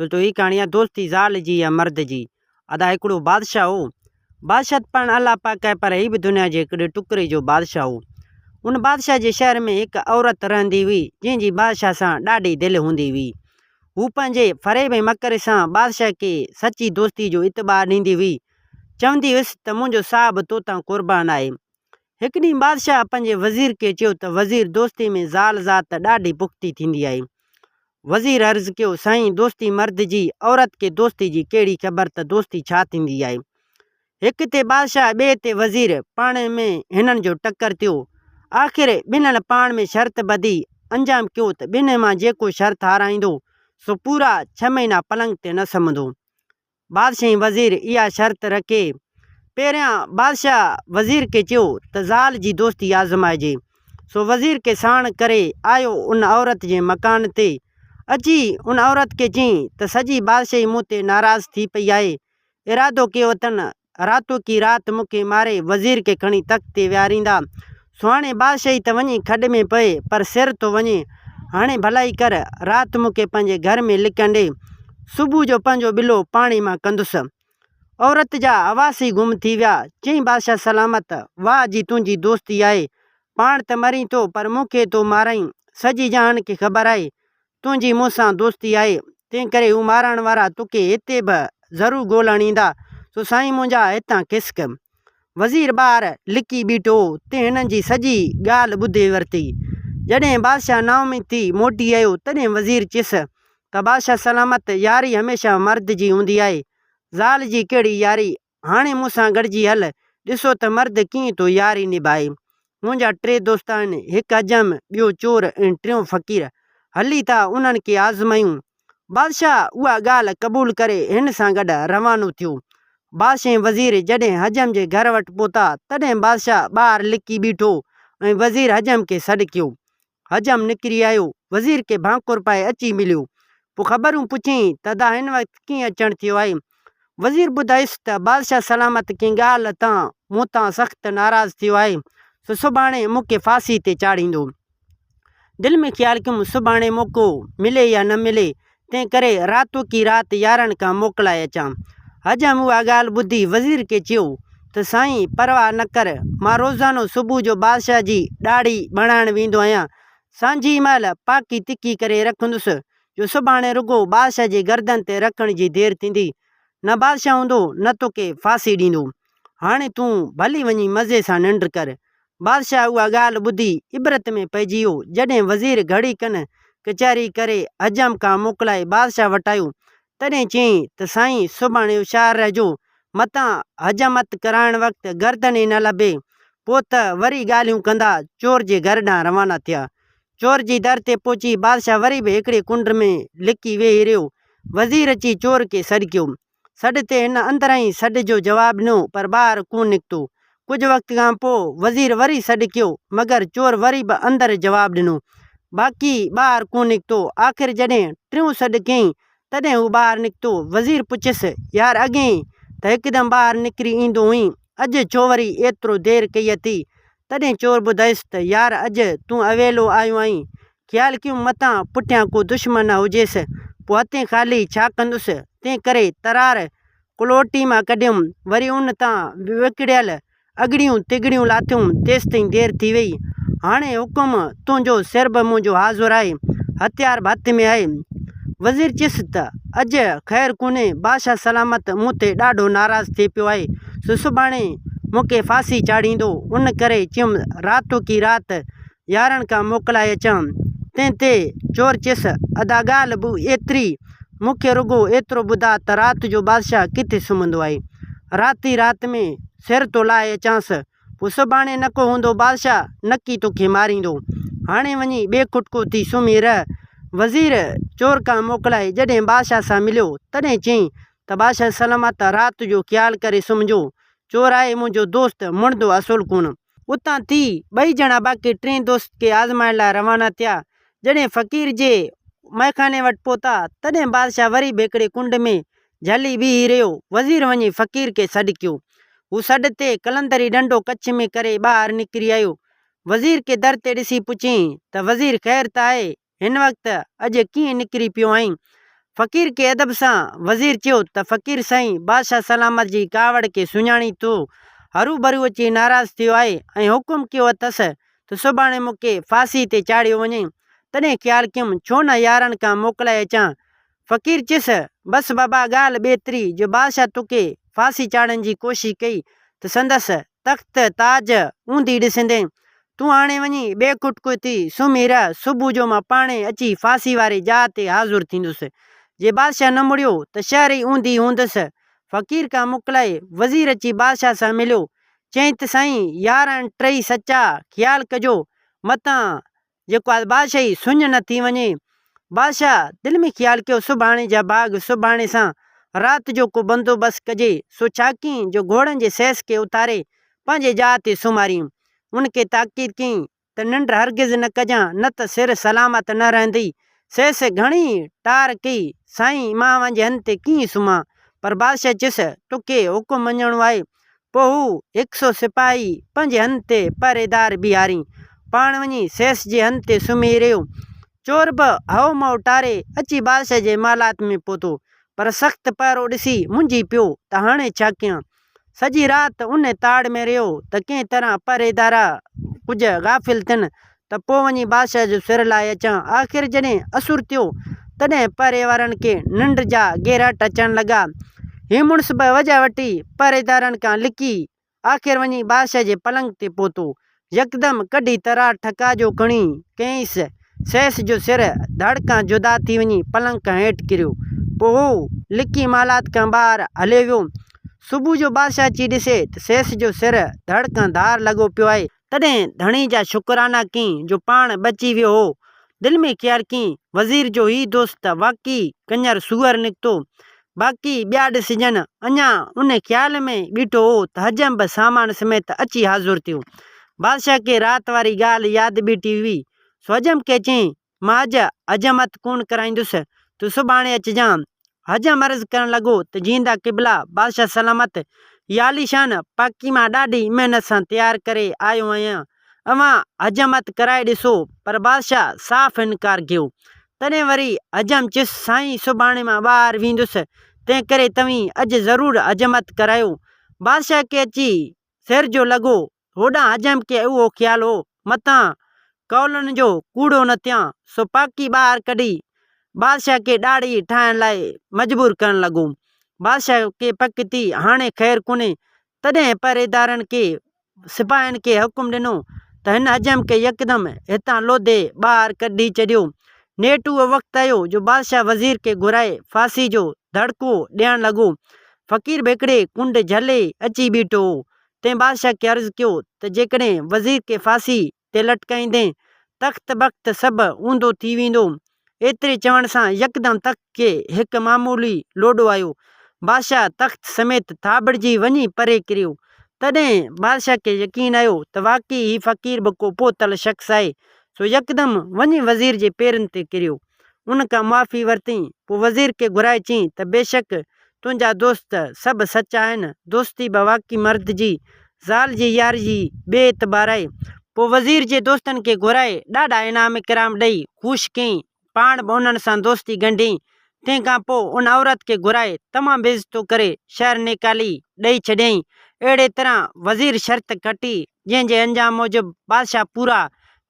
دوستو هي ڪهاڻي آ دوستي زال جي يا مرد جي ادا هڪڙو بادشاهه هو بادشاهه ته پاڻ الله پاڪ آهي پر هي به دنيا جي هڪڙي ٽڪري جو بادشاهه هو ان بادشاهه جي شهر ۾ هڪ عورت رهندي هئي جنهن جي بادشاهه سان ڏاڍي دل هوندي هئي هو پنهنجي فريب ۽ مڪر سان بادشاهه کي سچي دوستي جو اعتبار ڏيندي هئي چوندي هيس ته منهنجو ساهه به توتان قربان آهي هڪ ڏينهن بادشاهه پنهنجي وزير کي چيو ته وزير دوستي ۾ زال ذات ته ڏاڍي پختي ٿيندي آهي. وزير عرض ڪيو سائين دوستي مرد جي عورت کي دوستي جي ڪهڙي خبر ته دوستي ڇا ٿيندي آهي. هڪ تي بادشاهه ٻئي تي وزير پاڻ ۾ هنن جو ٽڪر ٿيو. آخر ٻنهن پاڻ ۾ شرط ٻڌي انجام ڪيو ته ٻنهن مان جيڪو شرط هارائيندو سو پورا ڇهه مهينا پلنگ تي نه سمهندو. بادشاهي وزير اها شرط رکي. پهريان بادشاهه وزير کي چيو ته زال جي دوستي آزمائجي. سو وزير کي ساڻ ڪري آيو ان عورت جي مڪان تي. اچي ان عورت کي چيائين ته سڄي بادشاهي مون تي ناراض ٿي پئي آهي. ارادو ڪيو اٿن راتو ڪي رات مون کي ماري وزير کي کڻي تخت تي ويهاريندا. سهڻي بادشاهي ته وڃي کڏ ۾ پئي پر سر ٿو وڃي. هاڻي ڀلائي ڪر رات مون کي پنهنجي گهر ۾ لڪڻ ڏي. صبح جو پنهنجو ٻلو پاڻي مان ڪندس. عورت جا حواس ئي گم ٿي ويا. چيائين بادشاهه سلامت واهه جي تنهنجي دوستي آهي. پاڻ ته مرين ٿو پر مون کي ٿو مارائين. سڄي جهان کي خبر آهي تنهنجي مون سان دوستي آهي، تنهن ڪري هو مارڻ وارا توکي هتي به ضرور ڳولڻ ايندا. سو سائين منهنجا هتان کسڪ. وزير ٻاهر لڪي بيٺو هو تي هنن جي سڄي ڳالهه ٻڌي ورتي. جڏهن بادشاهه نااميد ٿي موٽي آيو تڏهن وزير چيس ته بادشاهه سلامت ياري هميشه مرد جي هوندي آهي. زال جي ڪهڙي ياري هاڻي مون سان گڏجي هل، ڏسو ته مرد ڪيئن ٿو ياري نڀائي. منهنجا ٽي دوست آهن، هڪ حجام، ٻيو چور ۽ ٽيون فقير. هلي ٿا انهن کي آزمايون. بادشاهه اها ڳالهه قبول ڪري هن سان گڏ روانو ٿيو. بادشاهه ۽ وزير جڏهن حجم جي گهر وٽ پهتا تڏهن بادشاهه ٻاهر لڪي بيٺو ۽ وزير حجم کي سڏ ڪيو. حجم نڪري آيو، وزير کي ڀانڪور پائي اچي مليو، پوء خبرون پڇيائين ته ادا هن وقت ڪيئن اچڻ ٿيو آهي؟ وزير ٻڌايس ته بادشاهه سلامت ڪنهن ڳالهه تان مون تان سخت ناراض ٿيو آهي، سو سڀاڻي مون کي ڦاسي تي چاڙهيندو. دل ۾ خيال ڪيم سڀاڻي موقعو ملي يا نه ملي، تنهن ڪري راتو ڪي رات يارن کان موڪلائي اچان. حجم اها ڳالهه ٻڌي وزير کي چيو ته سائين پرواهه نه ڪر، مان روزانو صبح جو بادشاهه جي ڏاڙهي بڻائڻ ويندو آهيان. سانجهيء مهل پاڪي تکي ڪري رکندس، جو سڀاڻي رڳو بادشاهه جي گردن تي رکڻ جي دير ٿيندي. نه بادشاهه هوندو، نه توکي ڦاسي ڏيندو. هاڻي تون ڀلي وڃي مزي سان ننڊ ڪر. بادشاهه اها ڳالهه ٻڌي عبرت ۾ پئجي ويو. جڏهن وزير گهڙي کن ڪچهري ڪري حجام کان موڪلائي بادشاهه وٽ آيو، تڏهن چيائين ته سائين سڀاڻي هوشيار رهجو، متان حجامت ڪرائڻ وقت گردن ئي نه لڀي، پوء ته وري ڳالهيون ڪندا. چور جي گهر ڏانهن روانا ٿيا. چور جي در تي پهچي بادشاهه وري به هڪڙي ڪنڊ ۾ لڪي ويهي رهيو. وزير اچي چور کي سڏ ڪيو. سڏ تي هن اندرئين سڏ جو جواب ڏنو پر ٻاهر ڪونه نڪتو. ڪجهه وقت کان پوء وزير وري سڏ ڪيو مگر چور وري به اندر جواب ڏنو باقي ٻاهر ڪونه نڪتو. آخر جڏهن ٽيون سڏ ڪيائين تڏهن هو ٻاهر نڪتو. وزير پڇيس، يار اڳهين ته هڪدم ٻاهر نڪري ايندو هئين، اڄ ڇو وري ايترو دير ڪئي اٿئي؟ تڏهن چور ٻڌائيس ته، يار اڄ تون اويلو آيو آهين، خيال ڪيم متان پٺيان ڪو دشمن نه هجيس، پوء هٿين خالي ڇا ڪندس، تنهن ڪري ترار ڪلهوٽي مان ڪڍيم، وري ان تان وڪڙيل اڳڙيون تڳڙيون لاٿيم، تيستائين دير ٿي ويئي، هاڻي حڪم تنهنجو، سر به منهنجو حاضر آهي، هٿيار به هٿ ۾ آهي. وزير چيس ته اڄ خير ڪونهي، بادشاهه سلامت مون تي ڏاڍو ناراض ٿي پيو آهي، سو سڀاڻي مون کي ڦاسي چاڙهيندو، ان ڪري چيم راتوڪي رات يارن کان موڪلائي اچان. تنهن تي چور چيس، ادا ڳالهه به ايتري، مون کي رڳو ايترو ٻڌاء ته رات جو بادشاهه ڪٿي سمهندو آهي. رات ئي رات ۾ سر ٿو لاهي اچانس. پوء سڀاڻي نڪو هوندو بادشاهه نڪي توکي ماريندو. هاڻي وڃي ٻئي کٽڪو ٿي سمهي رهه. وزير چور کان موڪلائي جڏهن بادشاهه سان مليو تڏهن چيائين ته بادشاهه سلامت رات جو خيال ڪري سمهجو. چور آهي منهنجو دوست مڙندو اصل ڪونه. اتان ٿي ٻئي ڄڻا باقي ٽئين دوست کي آزمائڻ لاء روانا ٿيا. جڏهن فقير جي مئخاني وٽ پهتا، تڏهن بادشاهه وري به هڪڙي ڪنڊ ۾ جهلي بيهي رهيو. وزير وڃي فقير کي سڏ ڪيو. هو سڏ تي قلندري ڏنڊو ڪڇ ۾ ڪري ٻاهر نڪري آيو. وزير کي در تي ڏسي پڇيائين ته وزير خير ته آهي؟ هن وقت اڄ ڪيئن نڪري پيو آهين؟ فقير کي ادب سان وزير چيو ته فقير سائين بادشاهه سلامت جي ڪاوڙ کي سڃاڻي ٿو هروڀرو اچي ناراض ٿيو آهي ۽ حڪم ڪيو اٿس ته سڀاڻي مون کي ڦاسي تي چاڙهيو وڃي تڏهن خيال ڪيم ڇو نه يارن کان موڪلائي اچان فقير چيس، بس بابا ڳالهه ٻيتري جو بادشاهه توکي ڦاسي چاڙهڻ جي ڪوشش ڪئي ته سندس تخت تاج اونڌي ڏسندين. تون هاڻي وڃي ٻئي ڪٽڪو ٿي سمهي رهه، صبح جو مان پاڻهي اچي ڦاسي واري جاء تي حاضر ٿيندس. جي بادشاهه نه مڙيو ته شهر ئي اونڌي هوندس. فقير کان موڪلائي وزير اچي بادشاهه سان مليو. چيائين ته سائين يار هن ٽئي سچا خيال ڪجو متان جيڪو آهي بادشاهي سڃ نه ٿي وڃي. بادشاهه دل ۾ خيال ڪيو سڀاڻي جا ڀاڳ سڀاڻي سان رات جو ڪو بندوبست ڪجي. سو ڇا ڪيائين جو گهوڙن جي سيس کي اٿاري پنهنجي جاء تي سمهاريائين. ان کي تاڪيد ڪيائين ته ننڊ هرگز نه ڪجان نه ته سر سلامت نه رهندي. سيس گهڻي ئي ٽار ڪئي سائين مان اوهان جي هنڌ تي ڪيئن سمهان. پر بادشاهه چيس توکي حڪم مڃڻو آهي. پوء هو هڪ سو سپاهي پنهنجي هنڌ تي پهريدار بيهارين. پاڻ وڃي سيس جي هنڌ تي سمهي رهيو. چور به هئو مئو ٽاري اچي بادشاهه جي محلات ۾ پهتو، پر سخت پهرو ڏسي منجهي پيو ته هاڻي ڇا ڪيان؟ سڄي رات ان تاڙ ۾ رهيو ته ڪنهن طرح پهريدارا ڪجهه غافل تن ته پوء وڃي بادشاهه جو سر لاهي اچان. آخر جڏهن اسور ٿيو، تڏهن پهري وارن کي ننڊ جا گهراٽ اچڻ لڳا. هي مڙس به وجهه وٺي پهريدارن کان لڪي، آخر وڃي بادشاهه جي پلنگ تي پهتو. يڪدم ڪڍي ترار ٺڪا جو کڻي ڪينئس، سيس جو سر ڌڙ کان جدا ٿي وڃي پلنگ کان هيٺ ڪريو. پوء هو لڪي محلات کان ٻاهر هليو ويو. صبح جو بادشاهه اچي ڏسي ته سيس جو سر ڌڙ کان ڌار لڳو پيو آهي. تڏهن ڌڻي جا شڪرانا ڪين جو پاڻ بچي ويو هو. دل ۾ خيال ڪين وزير جو هي دوست ته واقعي ڪڃر سوئر نڪتو. باقي ٻيا ڏسجن. اڃا ان خيال ۾ ٻيٺو هو ته حجم به سامان سميت اچي حاضر ٿيو. بادشاهه کي رات واري ڳالهه ياد ٻيٺي هئي، سو حجم کي چيائين، مان اڄ حجامت ڪونه ڪرائيندس، تون سڀاڻي اچجانء. حجام عرض ڪرڻ لڳو ته جيئندا قبلا، بادشاهه سلامت، اها عاليشان پاڪي مان ڏاڍي محنت سان تيار ڪري آيو آهيان، اوهان حجامت ڪرائي ڏسو. پر بادشاهه صاف انڪار ڪيو. تڏهن وري حجام چيس، سائين سڀاڻي مان ٻاهر ويندس، تنهنڪري توهين اڄ ضرور حجامت ڪرايو. بادشاهه کي اچي سهرجو لڳو هوڏانهن عجم کي اهو خيال هو، متان قولن جو ڪوڙو نه ٿيان، سو پاڪي ٻاهر ڪڍي، بادشاهه کي ڏاڙهي ٺاهڻ لاء مجبور ڪرڻ لڳو. بادشاهه کي پڪ ٿي، هاڻي خير ڪونهي، تڏهن پهريدارن کي، سپاهين کي حڪم ڏنو ته هن عجم کي يڪدم هتان لوڌي ٻاهر ڪڍي ڇڏيو. نيٺ اهو وقت آيو جو بادشاهه وزير کي گهرائي ڦاسي جو دڙڪو ڏيڻ لڳو. فقير به هڪڙي ڪنڊ جهلي اچي بيٺو هو، تنهن بادشاهه کي عرض ڪيو ته جيڪڏهن وزير کي ڦاسي تي لٽڪائيندين، تخت بخت سڀ اونڌو ٿي ويندو. ايتري چوڻ سان يڪدم تخت کي هڪ معمولي لوڏو آيو. بادشاهه تخت سميت ٿاٻڙجي وڃي پري ڪريو. تڏهن بادشاهه کي يقين آيو ته واقعي هي فقير به ڪو پوتل شخص آهي، سو يڪدم وڃي وزير جي پيرن تي ڪريو. ان کان معافي ورتئين، پوء وزير کي گهرائي چيائين ته بيشڪ تنهنجا دوست سڀ سچ آهن، دوستي به واقعي مرد جي زال جي ياري جي بي اعتبار آهي. پوء وزير جي دوستن کي گهرائي ڏاڍا انعام ڪرام ڏئي خوش ڪيائين، پاڻ به انهن سان دوستي ڳنڍيائين، تنهن کان پوء ان عورت کي گهرائي تمام بي عزتو ڪري شهر نيڪالي ڏئي ڇڏيائين، اهڙي طرح وزير شرط کٽي جنهن جي انجام موجب بادشاهه پورا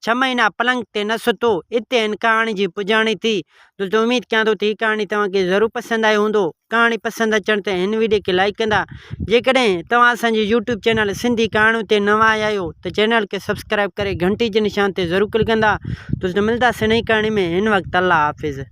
ڇهه مهينا پلنگ تي نه ستو. اتي هن ڪهاڻي جي پڄاڻي ٿي. دوستو اميد ڪيان ٿو ته هي ڪهاڻي توهان کي ضرور پسند آئي هوندو. ڪهاڻي پسند اچڻ تي هن وڊيو کي لائيڪ ڪندا. جيڪڏهن توهان اسان جي يوٽيوب چينل سنڌي ڪهاڻيون تي نوان آيا آهيو ته چينل کي سبسڪرائيب ڪري گهنٽي جي نشان تي ضرور ڪلڪ ڪندا. دوستو ملداسين نئين ڪهاڻي ۾ هن وقت الله حافظ.